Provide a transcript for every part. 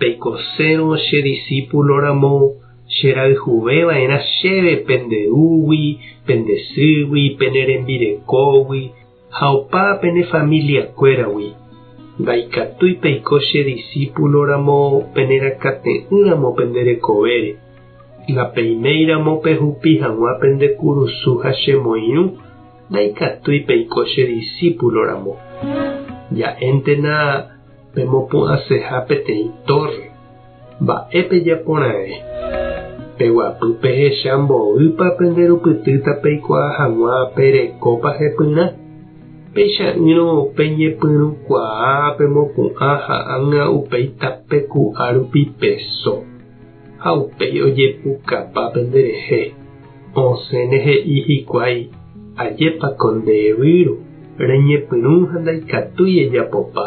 Peikosérõ che disípulo ramo, cherayhuve va'erã chéve pende rúgui, pende sýgui, pene rembirekógui, ha opa pene familia kuéragui. Ndaikatúi peiko che disípulo ramo pene rakate'ỹ ramo pende rekovére. Napeiméi ramo pehupi hag̃ua pende kurusu ha che moirũ, ndaikatúi peiko che disípulo ramo. Ja'éntena Pemopu'ãseha peteĩ tórre. Mba'e pejapora'e? Peguapy pehecha mboýpa pende rupytýta peikuaa hag̃ua pe rekópa hepyrã. Peicha'ỹrõ peñepyrũkuaa pemopu'ã ha ág̃a upéi tape ku'a rupi peso. Ha upéi ojepukapa pende rehe, osẽne he'i hikuái, Ajépa ko nde yvyru, reñepyrũ ha ndaikatúi ejapopa.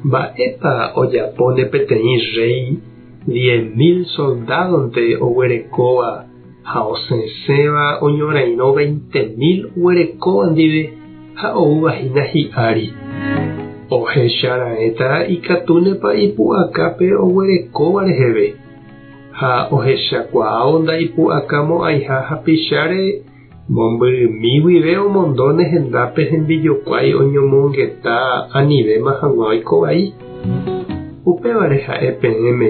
Mba'épa ojapóne peteĩ rréi diez mil soldádonte oguerekóva Ha osẽséva oñorairõ veinte mil oguerekóva ndive ha oúva hína hi'ári. Ohecha raẽta ikatúnepa ipu'aka pe oguerekóva reheve, ha ohechakuaávo ndaipu'aka mo'ãiha hapicháre mombyrymi guive omondo ne hendápe hembijokuái oñomongeta anivéma hag̃ua oiko vai. Upévare ha'e peẽme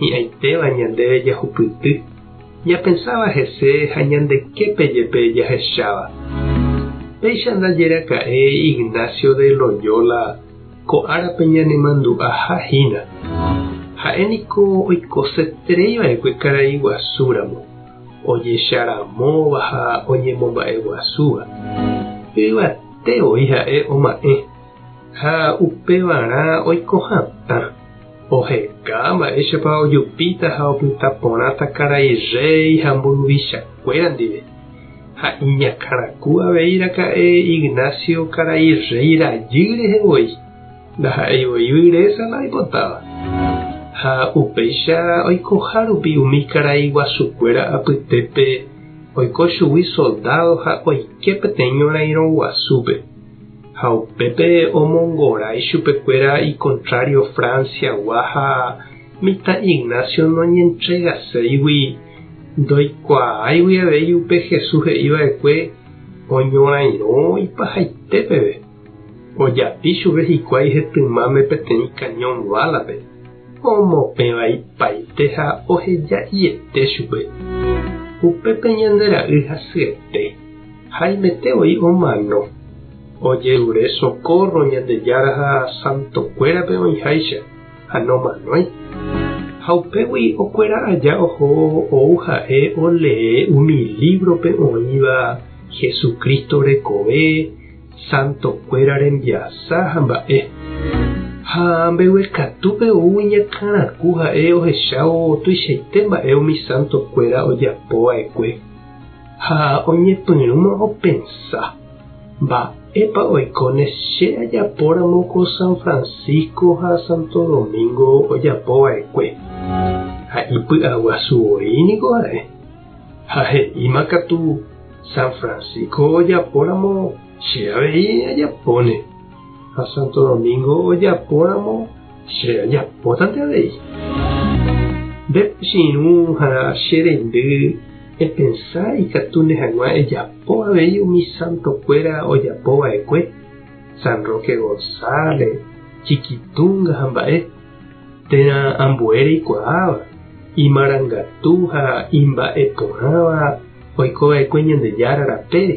Hi'ãitéva ñandéve jahupyty, ñapensáva hese ha ñande képe jepe jahecháva. Péicha ndajeraka'e Ignacio de Loyola ko árape ñanemandu'aha hína. Ha'e niko oikoseterei va'ekue karai guasu ramo, ojecha ramóva ha oñemomba'eguasúva. Yvate voi ha'e oma'ẽ. Ha upevarã oiko hatã, oheka mba'éichapa ojupíta ha opyta porãta karai rréi ha mburuvichakuéra ndive. Ha iñakãraku avei raka'e Ignacio karai rréi rajy rehe voi, ndaha'éi voi vyresa la oipotáva. Ha upéicha oikoha rupi umi karai guasukuéra apytépe oiko chugui soldádo ha oike peteĩ ñorairõ guasúpe. Ha upépe omongorái chupekuéra ikontrário Franciagua ha mitã Ignacio noñentregaséigui, ndoikuaáigui avei upe Jesús he'i va'ekue oñorairõ ipahaite peve. Ojapi chupe hikuái hetymáme peteĩ cañón bálape, omopẽva ipaite ha oheja'iete chupe. Upépe ñande ra'y hasyete. Haimete voi omano ojerure sokórro Ñandejára ha santokuérape oĩháicha ha nomanói. Ha upégui okuera aja oho ou ha'e olee umi lívrope oĩva Jesucristo rekove, santokuéra rembiasa ha mba'e. Ha mbeguekatúpe ou iñakãraku ha'e ohechávo tuichaite mba'e umi santokuéra ojapova'ekue. Ha oñepyrũma opensa, Mba'épa oikóne che ajapóramo ko San Francisco ha Santo Domingo ojapova'ekue? Ha ipy'aguasu voi niko ha'e. Ha he'íma katu San Francisco ojapóramo che avei ajapóne, ha Santo Domingo ojapóramo, Che ajapótante avei. Nde pochyirũ ha che rendy epensa ikatúne hag̃ua ejapo avei umi santokuéra ojapo va'ekue, San Roque González, Chiquitunga ha mba'e, térã ambue reikuaáva, imarangatu ha imba'eporãva oiko va'ekue Ñandejára rapére.